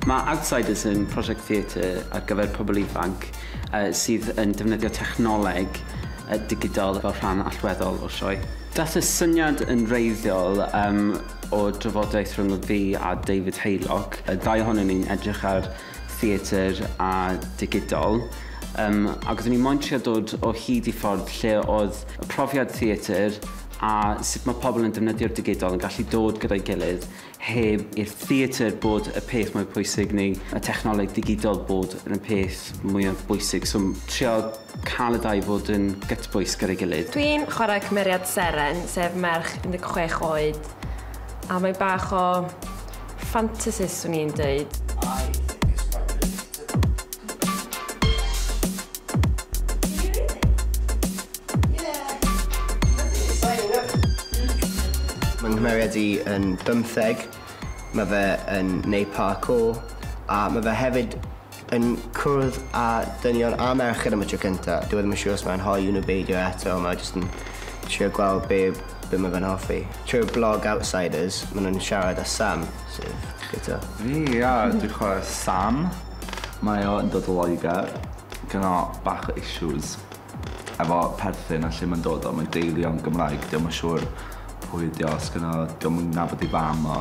Mae Outsiders yn prosiect theatr ar gyfer pobl ifanc sydd yn defnyddio technoleg digidol fel rhan allweddol o'r sioe. Daeth y syniad yn wreiddiol o drafodaeth rhwng fi a David Haylock, y ddau ohonyn ni'n edrych ar theatr a digidol, yym, ac oeddwn i moyn trio dod o hyd i ffordd lle oedd y profiad theatr a sut mae pobl yn defnyddio'r digidol yn gallu dod gyda'i gilydd heb i'r theatr bod y peth mwy pwysig neu y technoleg digidol bod yn y peth mwyaf bwysig, so trio cael y ddau fod yn gytbwys gyda'i gilydd. Dwi'n chwarae cymeriad Seren, sef merch 16 oed, a mae bach o Fantasist swn i'n dweud. Mae nghymeriad i yn bymtheg, mae fe yn wneud parkour a mae fe hefyd yn cwrdd â dynion a merched am y tro cynta. Dwi ddim yn siŵr os mae'n hoyw nhw beidio eto, ond mae jyst yn trio gweld be, be mae fe'n hoffi. Trwy'r blog Outsiders, maen nhw'n siarad â Sam, sef gyda. Fi, ia, dwi'n chwarae Sam. Mae o yn dod o Loegr. Gynna bach o issues efo perthyn a lle mae'n dod o. Mae'n deulu o'n Gymraeg. Dwi ddim yn siŵr pwy ydi o, os gynna... Dwi ddim yn nabod ei fam o.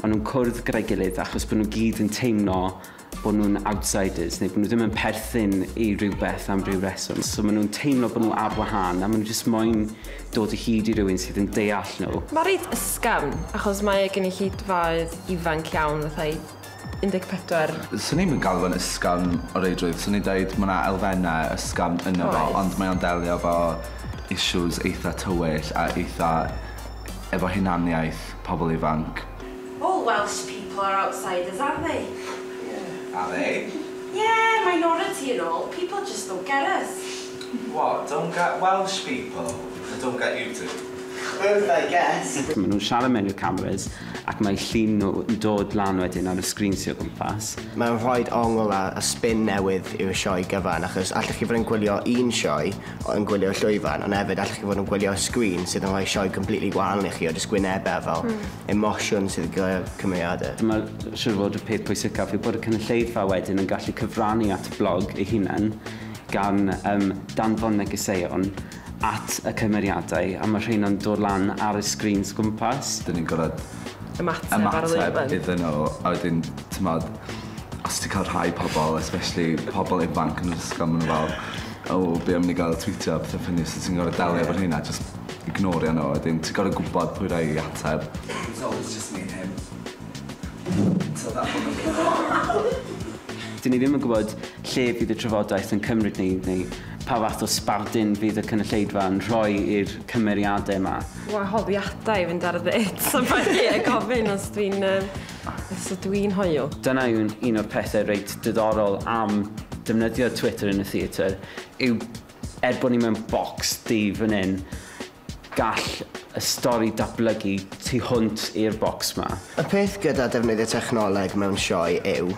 Maen nhw'n cwrdd gyda'i gilydd achos bod nhw gyd yn teimlo bod nhw'n outsiders neu bod nhw ddim yn perthyn i rywbeth am ryw reswm. So maen nhw'n teimlo bod nhw ar wahân a maen nhw jyst moyn dod o hyd i rywun sydd yn deall nhw. Mae reit ysgafn achos mae e gynulleidfaoedd ifanc iawn fatha 14. Swn i'm yn galw fe'n ysgafn o reidrwydd, swn i'n dweud mae yna elfennau ysgafn ynddo fo ond mae o'n delio efo issues eitha' tywyll a eitha' efo hunaniaeth pobl ifanc. All Welsh people are outsiders, aren't they? Yeah, are they? Yeah, minority and all, people just don't get us. What, don't get Welsh people? They don't get you two? Both, I guess. Maen nhw'n siarad mewn i'r cameras ac mae llun nhw yn dod lan wedyn ar y sgrîn sy o gwmpas. Mae'n rhoid ongl a spin newydd i'r sioe gyfan achos allech chi fod yn gwylio un sioe yn gwylio'r llwyfan ond efyd allwch chi fod yn gwylio sgrin sydd yn rhoi sioe completely wahanol i chi o jyst gwynebe a fel hmm. emosiwn sydd yn gyda'r cymeriadau. Dyma siwr fod y peth pwysicaf yw bod y cynulleidfa wedyn yn gallu cyfrannu at y blog ei hunan gan um, danfon negeseuon at y cymeriadau a mae rhai'n dod lan ar y sgrin gwmpas. Dyn ni'n gorfod ymateb, ymateb iddyn nhw a wedyn, ti'n modd, os ti'n cael rhai pobl, especially pobl ifanc yn yr ysgol, maen nhw fel, O be am ni ga'l twîtio a petha ffyni so ti'n gor'o' delio efo rheina jyst ignorio n'w a wedyn ti gor'o' gwbod pwy rai i ateb. It's always just me and him. So that one make it awkward. 'Dyn ni ddim yn gwbod lle fydd y trafodaeth yn cymryd ni neu pa fath o sbardun fydd y cynulleidfa yn rhoi i'r cymeriade 'ma. Wahoddiadau i fynd ar ddeits a ballu a gofyn os dwi'n yy Os ydw i'n hoyw? Dyna yw un o'r pethe reit diddorol am defnyddio Twitter yn y theatr yw er bod ni mewn bocs du fan 'yn, gall y stori datblygu tu hwnt i'r bocs 'ma. Y peth gyda defnyddio technoleg mewn sioe yw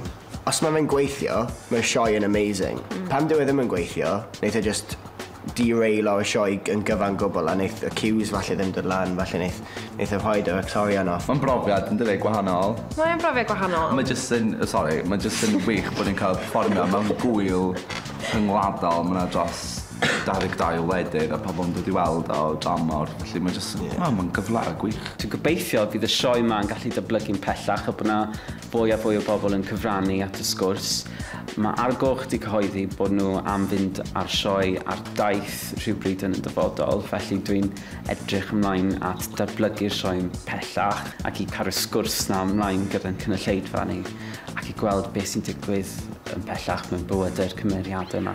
Os ma fe'n gweithio, mae'r sioe yn amazing. Pan dyw e ddim yn gweithio, neith e jyst derailo y sioe yn gyfan gwbl a neith y cues falle ddim dod lan, falle neith neith e rhoid yr actorion off. Mae'n brofiad, yn dyw e, gwahanol. Mae e'n brofiad gwahanol. Mae jyst yn, sori, mae jyst yn wych bod ni'n cael perfformio mewn gŵyl rhyngwladol, ma' 'na dros 22 wledydd a pobl yn dod i weld o dan mor, felly mae jyst yn, wel, mae'n gyfle gwych. Dwi'n gobeithio y bydd y sioe 'ma yn gallu datblygu'n pellach a bod 'na Fwy a fwy o bobl yn cyfrannu at y sgwrs. Mae Ar Goch 'di cyhoeddi bod nhw am fynd â'r sioe ar daith rhywbryd yn y dyfodol, felly dwi'n edrych ymlaen at ddatblygu'r sioe pellach ac i caru'r sgwrs 'na ymlaen gyda'n cynulleidfa ni ac i gweld beth sy'n digwydd yn pellach mewn bywydau'r cymeriadau 'ma.